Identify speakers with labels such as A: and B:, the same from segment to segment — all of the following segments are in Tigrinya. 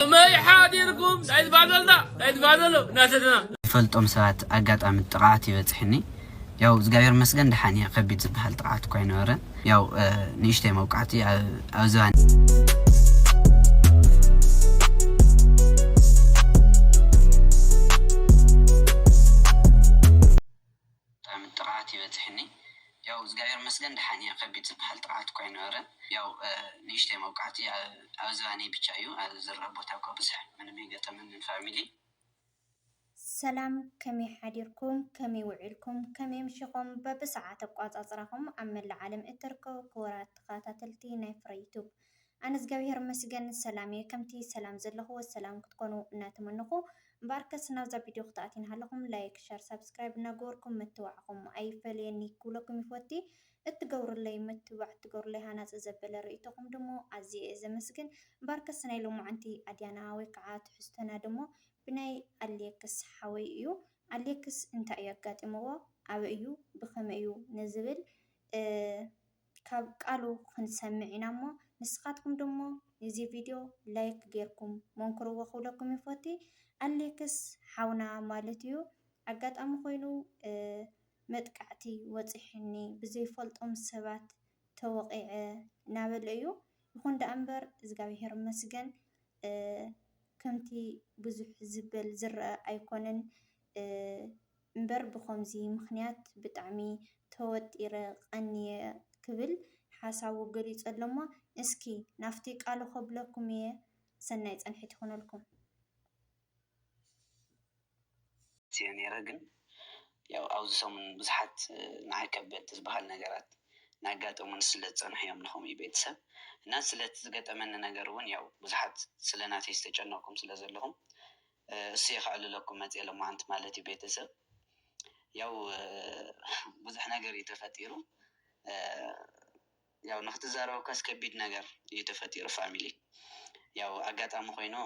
A: ከመይ ሓዲርኩም ናይ ዝባዘልና ናይ ዝባዘሎ እናተትና ዝፈልጦም ሰባት
B: ኣጋጣሚ ጥቕዓት ይበጽሕኒ ያው እግዚኣብሔር መስገን ደሓን እየ ከቢድ ዝበሃል ጥቕዓት እኳ ኣይነበረን ያው ንእሽተይ መውቃዕቲ ኣብ ዝባን ብጣዕሚ ጥቅዓት ይበጽሕኒ ያው እዝጋብሄር ይመስገን ደሓን እየ ከቢድ ዝብሃል ጥቅዓት እኳ ኣይነበረን ያው ንእሽተይ መውቃዕቲ ኣብ ዝባነይ ብቻ እዩ ኣብ ዝርኣ ቦታ እኳ ብዙሕ ምንም ኣይገጠመንን ፋሚሊ።
C: ሰላም ከመይ ሓዲርኩም ከመይ ውዒልኩም ከመይ ኣምሺኹም በብሰዓት ኣቋጻጽራኹም ኣብ መላእ ዓለም እትርከቡ ክቡራት ተኸታተልቲ ናይ ፍረ ዩቱብ ኣነ እዝጋቢሄር ይመስገን ሰላም እየ ከምቲ ሰላም ዘለክዎ ሰላም ክትኮኑ እናተመነኩ እምበኣርከስ ናብዛ ቪድዮ ክትኣትዩ እናሃለኩም ላይክ ሸር ሳብስክራይብ እናገበርኩም ምትብባዕኩም ኣይፈለየኒ ክብለኩም ይፎቲ እትገብሩለይ ምትብባዕ እትገብሩለይ ሃናፂ ዘበለ ርእይቶኩም ድሞ ኣዝየ እየ ዘመስግን እምበኣርከስ ናይ ሎማዓንቲ ኣድያና ወይ ከዓ ትሕዝቶና ድሞ ብናይ ኣሌክስ ሓወይ እዩ ኣሌክስ እንታይ እዩ ኣጋጢምዎ ኣበይ እዩ ብከመይ እዩ ንዝብል ካብ ቃሉ ክንሰምዕ ኢና እሞ ንስካትኩም ድሞ ንዚ ቪድዮ ላይክ ገርኩም ሞንክርዎ ክብለኩም ይፎቲ ኣሌክስ ሓውና ማለት እዩ ኣጋጣሚ ኮይኑ መጥቃዕቲ ወጺሕኒ ብዘይ ፈልጦም ሰባት ተወቂዐ ናበለ እዩ ይኩን ዳኣ እምበር እዝጋብሄር ይመስገን ከምቲ ብዙሕ ዝበል ዝረኣ ኣይኮነን። እምበር ብኸምዚ ምኽንያት ብጣዕሚ ተወጢረ ቐንየ ክብል ሓሳቡ ገሊጹ ኣሎሞ እስኪ ናፍቲ ቃሉ ከብለኩም ኢየ ሰናይ ጸንሒት ይኹነልኩም።
B: ኣትየ ነይረ ግን ያው ኣብዚ ሰሙን ብዙሓት ንዓይ ከበድቲ ዝበሃል ነገራት ናጋጠሙኒ ስለ ዝጸንሑ እዮም ንከምኡ ቤተሰብ እና ስለቲ ዝገጠመኒ ነገር ውን ያው ብዙሓት ስለ ናተይ ዝተጨነቅኩም ስለ ዘለኹም እሰይ ከዕልለኩም መፅየ ሎማዓንቲ ማለት እዩ ቤተሰብ ያው ብዙሕ ነገር እዩ ተፈጢሩ ያው ንክትዛረብኳስ ከቢድ ነገር እዩ ተፈጢሩ ፋሚሊ ያው ኣጋጣሚ ኮይኑ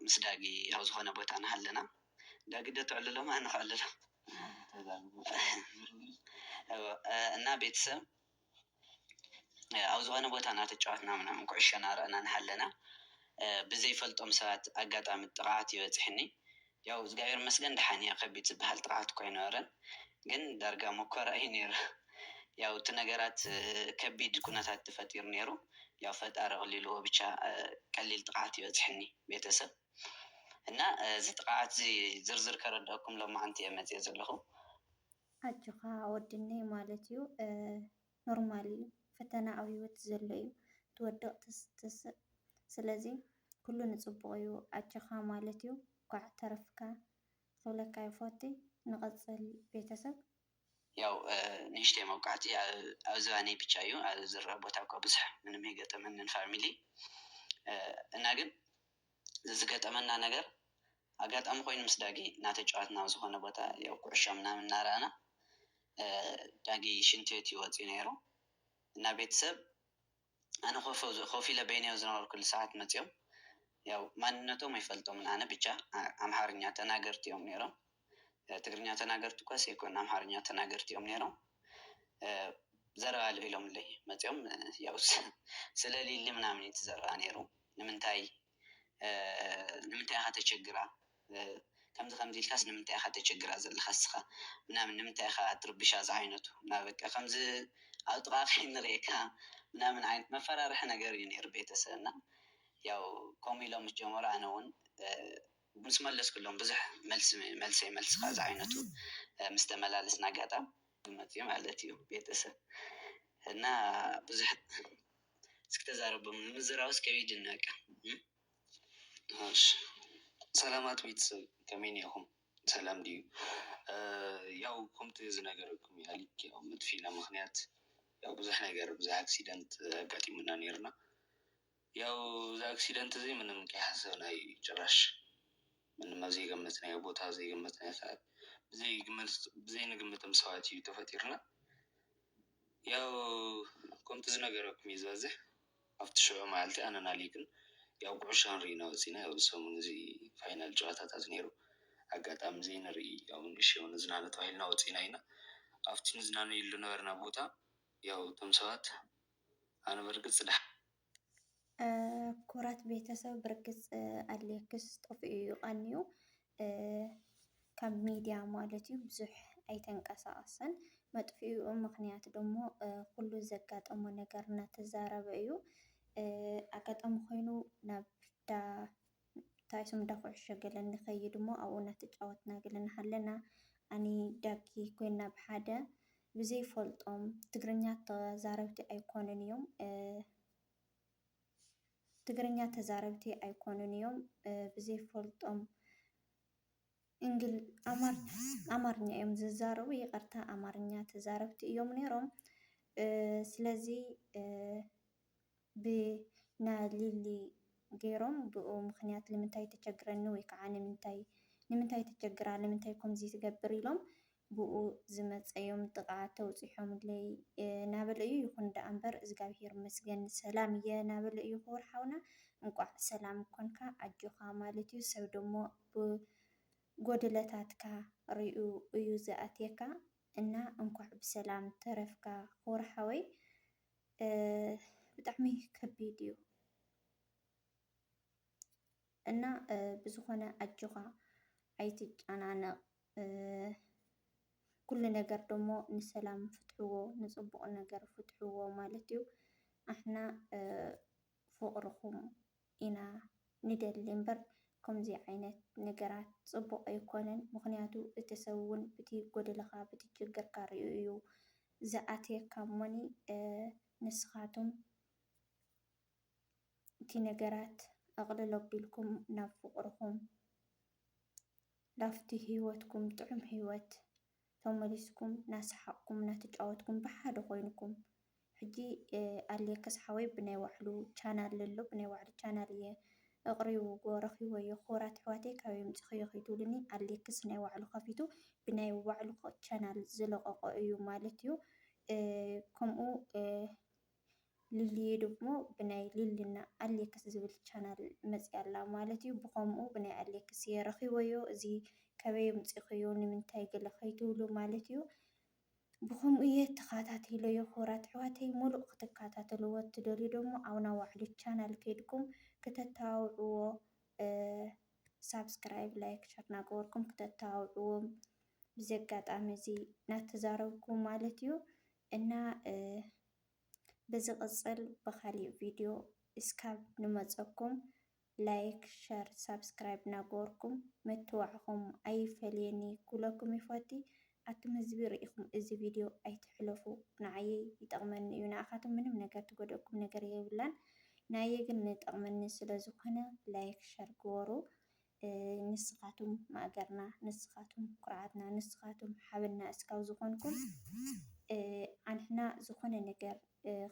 B: ምስ ዳጊ ኣብ ዝኮነ ቦታ ናሃለና ዳጊ ዶ ተዕልሎ እሞ ኣነ ከዕልሎ እና ቤተሰብ ኣብ ዝኾነ ቦታ እናተጫወትና ምናምን ኩዕሾ እናረኣና እናሃለና ብዘይፈልጦም ሰባት ኣጋጣሚ ጥቕዓት ይበፅሐኒ። ያው እግዚኣብሔር ይመስገን ደሓን እየ ከቢድ ዝበሃል ጥቕዓት እኳ ኣይነበረን ግን ዳርጋ መኮራ እዩ ነይሩ። ያው እቲ ነገራት ከቢድ ኩነታት ተፈጢሩ ነይሩ ያው ፈጣሪ ኣቕሊልዎ ብቻ ቀሊል ጥቕዓት ይበፅሐኒ ቤተሰብ እና እዚ ጥቕዓት እዚ ዝርዝር ከረድኣኩም ሎማዓንቲ እየ መፂኤ ዘለኹ።
C: ኣጆኻ ወድነይ ማለት ዩ ኖርማል ዩ ፈተና ኣብ ሂወት ዘሎ ዩ ትወድቅ ትስትስእ ስለዚ ኩሉ ንጽቡቅ ዩ ኣጆኻ ማለት ዩ እንኳዕ ተረፍካ ክብለካ ይፎቲ ንቀጽል ቤተሰብ። ያው
B: ንእሽተይ መውቃዕቲ ኣብ ዝባነይ ብቻ እዩ ኣብ ዝረር ቦታ እኳ ብዙሕ ምንም ኣይገጠመንን ፋሚሊ እና ግን ዝገጠመና ነገር ኣጋጣሚ ኮይኑ ምስ ዳጊ እናተጫወትና ኣብ ዝኾነ ቦታ ያው ኩዕሾ ምናምን እናረኣና ዳጊ ሽንቲ ቤት እዩ ወፂኡ ነይሩ እና ቤተሰብ ኣነ ኮፍ ኢለ በይነይ ኣብ ዝነበርኩሉ ሰዓት መፂኦም ያው ማንነቶም ኣይፈልጦምን ኣነ ብቻ ኣምሓርኛ ተናገርቲ እዮም ነይሮም። ትግርኛ ተናገርቲ እኳስ ኣይኮኑን ኣምሓርኛ ተናገርቲ እዮም ነይሮም ዘረባ ኣልዒሎምለይ መፂኦም ያው ስለሊሊ ምናምን እዩ እቲ ዘረባ ነይሩ ንምንታይ ንምንታይ ኢኻ ተቸግራ ከምዚ ከምዚ ኢልካስ ንምንታይ ኢኻ ተቸግራ ዘለኻ እስኻ ምናምን ንምንታይ ኢኻ ትርብሻ ዝዓይነቱ እና በቃ ከምዚ ኣብ ጥቓ ከይንሪኤካ ምናምን ዓይነት መፈራርሒ ነገር እዩ ነይሩ ቤተሰብና ያው ከምኡ ኢሎም ምስ ጀመሩ ኣነ እውን ምስ መለስክሎም ብዙሕ መልሲ መልሰይ መልስኻ ዝዓይነቱ ምስ ተመላለስና ኣጋጣም ዝመጽኡ ማለት እዩ ቤተሰብ እና ብዙሕ እስኪ ተዛረቦም ንምዝራብስ ከቢድ እኒ በቃ እሺ
D: ሰላማት ቤተሰብ ከመይ እኒኤኹም ሰላም ድዩ ያው ከምቲ ዝነገረኩም እዩ ኣሊክ ያው መጥፊእና ምኽንያት ያው ብዙሕ ነገር ብዙሕ ኣክሲደንት ኣጋጢሙና ኔርና። ያው እዚ ኣክሲደንት እዚ ምንም ከይሓሰብናዩ እዩ ጭራሽ ምንም ኣብ ዘይገመትናዮ ቦታ ኣብ ዘይገመትናዮ ሰዓት ብዘይንግምቶም ሰባት እዩ ተፈጢሩና ያው ከምቲ ዝነገረኩም እዩ ዝበዝሕ ኣብቲ ሽዑ መዓልቲ ኣነን ኣሌክን ያው ኩዕሾ ክንርኢ ኢና ወፂና ያው እዚ ሰሙን እዚ ፋይናል ጨዋታታት ነይሩ ኣጋጣሚ ዘይንርኢ ያው ንእሽተይ ንዝናነ ተባሂልና ወፂና ኢና ኣብቲ ንዝናነየሉ ዝነበርና ቦታ ያው እቶም ሰባት ኣነ ብርግጽ ድሓን።
C: ክቡራት ቤተሰብ ብርግጽ ኣሌክስ ጠፊኡ እዩ ቀንዩ ካብ ሚድያ ማለት እዩ ብዙሕ ኣይተንቀሳቐሰን። መጥፊኡ ምክንያት ደሞ ኩሉ ዘጋጠሞ ነገር እናተዛረበ እዩ ኣጋጣሚ ኮይኑ ናብ ዳ እታ ስም እንዳ ኩዕሾ ገለ ንከይድ እሞ ኣብኡ እናተጫወትና ገለ እናሃለና ኣኒ ዳጊ ኮይና ብሓደ ብዘይፈልጦም ትግርኛ ተዛረብቲ ኣይኮኑን እዮም ትግርኛ ተዛረብቲ ኣይኮኑን እዮም ብዘይፈልጦም እንግል ኣማርኛ እዮም ዝዛረቡ ይቅርታ ኣማርኛ ተዛረብቲ እዮም ነይሮም ስለዚ ብ ን ሊሊ ገይሮም ብኡ ምኽንያት ልምንታይ ተቸግረኒ ወይ ከዓ ንምንታይ ንምንታይ ተቸግራ ልምንታይ ኮምዚ ትገብር ኢሎም ብኡ ዝመፀዮም ጥቃ ተብፂሖምለይ ናበለ እዩ ይኹን ዳኣ እምበር እዝጋብሄር ይመስገን ሰላም እየ ናበለ እዩ ክቡር ሓውና እንኳዕ ሰላም ኮንካ ኣጆኻ ማለት እዩ ሰብ ደሞ ብ ጎድለታትካ ሪኡ እዩ ዝኣትየካ እና እንኳዕ ብሰላም ተረፍካ ክቡር ሓወይ። ብጣዕሚ ከቢድ እዩ እና ብዝኾነ ኣጆኻ ኣይትጨናነቕ። ኩሉ ነገር ደሞ ንሰላም ፍትሕዎ፣ ንፅቡቕ ነገር ፍትሕዎ ማለት እዩ ኣሕና ፍቅርኩም ኢና ንደሊ እምበር ከምዙይ ዓይነት ነገራት ፅቡቅ ኣይኮነን ምክንያቱ እቲ ሰብ እውን ብቲ ጎደለካ ብቲ ችግርካ ሪኡ እዩ ዝኣትየካ እሞኒ ንስካትም እቲ ነገራት ኣቅልል ኣቢልኩም ናብ ፍቅርኩም ናብቲ ሂወትኩም ጥዑም ሂወት ተመሊስኩም ናሳሓቅኩም ናተጫወትኩም ብሓደ ኮይንኩም ሕጂ ኣሌክስ ሓወይ ብናይ ባዕሉ ቻናል ለሎ ብናይ ባዕሉ ቻናል እየ እቅሪብዎ ረኪበዮ ክቡራት ኣሕዋተይ ካበይ ኣምጺክዮ ከይትብሉኒ ኣሌክስ ናይ ባዕሉ ከፊቱ ብናይ ባዕሉ ቻናል ዝለቀቆ እዩ ማለት እዩ ከምኡ ሊሊየ ደሞ ብናይ ሊሊና ኣሌክስ ዝብል ቻናል መፂኣ ኣላ ማለት እዩ ብከምኡ ብናይ ኣሌክስ እየ ረኪበዮ እዚ ከበይ ኣምፂክዮ ንምንታይ ገለ ከይትብሉ ማለት እዩ ብከምኡ እየ ተካታቲለዮ ክቡራት ኣሕዋተይ ሙሉእ ክትካታተልዎ እትደልዩ ደሞ ኣብ ናይ ባዕሉ ቻናል ከይድኩም ክተተባብዕዎ ሳብስክራይብ ላይክ ሸር እናገበርኩም ክተተባብዕዎ ብዚ ኣጋጣሚ እዚ እናተዛረብኩ ማለት እዩ እና ብዝቅፅል ብካሊእ ቪድዮ እስካብ ንመፀኩም ላይክ ሸር ሳብስክራይብ ናገበርኩም ምትብባዕኩም ኣይፈለየኒ ክብለኩም ይፈቲ ኣቱም ህዝቢ ሪኢኩም እዚ ቪድዮ ኣይትሕለፉ ንዓየይ ይጠቅመኒ እዩ ንኣካቱም ምንም ነገር ትጎደእኩም ነገር የብላን ንኣየ ግን ንጠቅመኒ ስለዝኮነ ላይክ ሸር ግበሩ ንስኻቱም ማእገርና፣ ንስኻቱም ኩርዓትና፣ ንስኻቱም ሓበንና እስካብ ዝኾንኩም ኣንሕና ዝኾነ ነገር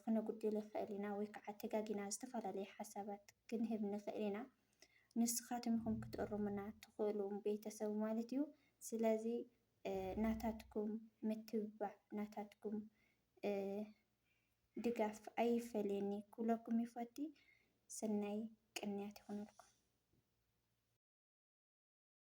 C: ክነጉድል ይኽእል ኢና ወይ ከዓ ተጋጊና ዝተፈላለዩ ሓሳባት ክንህብ ንኽእል ኢና። ንስኻቱም ኢኹም ክትእርሙና ትኽእሉ ቤተሰብ ማለት እዩ። ስለዚ ናታትኩም ምትብባዕ ናታትኩም ድጋፍ ኣይፈለየኒ ክብለኩም ይፈቲ ሰናይ ቅንያት ይኹነልኩም።